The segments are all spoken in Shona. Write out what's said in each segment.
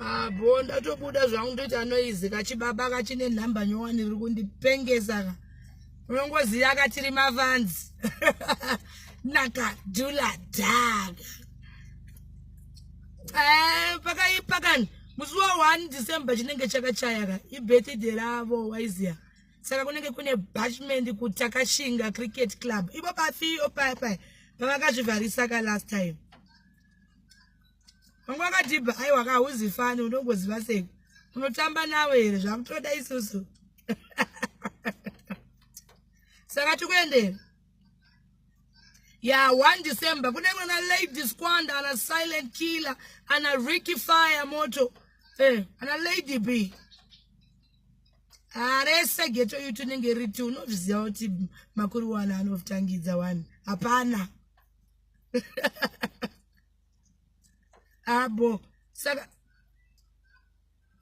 abo ah, ndatobuda zvangu ndoita noizi kachibaba kachine nhamba nyowani riri kundipengesa ka unongoziva katiri mavanzi nakadula daga eh, pakaipa kani musi wa 1 december chinenge chakachaya ka ibirthday ravo waiziva saka kunenge kune bashment kutakashinga cricket club ivo pafio papai pavakazvivharisa ka last time vamwe vakatibva aiwa ka hauzifani unongoziva sei unotamba navo here zvakutoda isusu saka tikuendera ya one december kune mwana lady squand ana silent killer ana ricky fire moto eh, ana lady b arese geto yutu inenge riti unozviziva kuti makuru wani anotangidza wani hapana abo ah, saka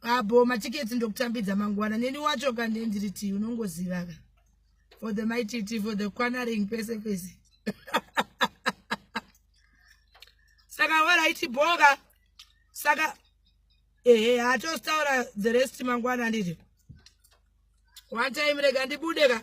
abo ah, matiketi ndokutambidza mangwana neni wacho kande ndiri ti unongoziva ka for the mititi for the quanaring pese pese saka waraiti boka saka ehe hatostaura the rest mangwana nditi one time rega ndibude ka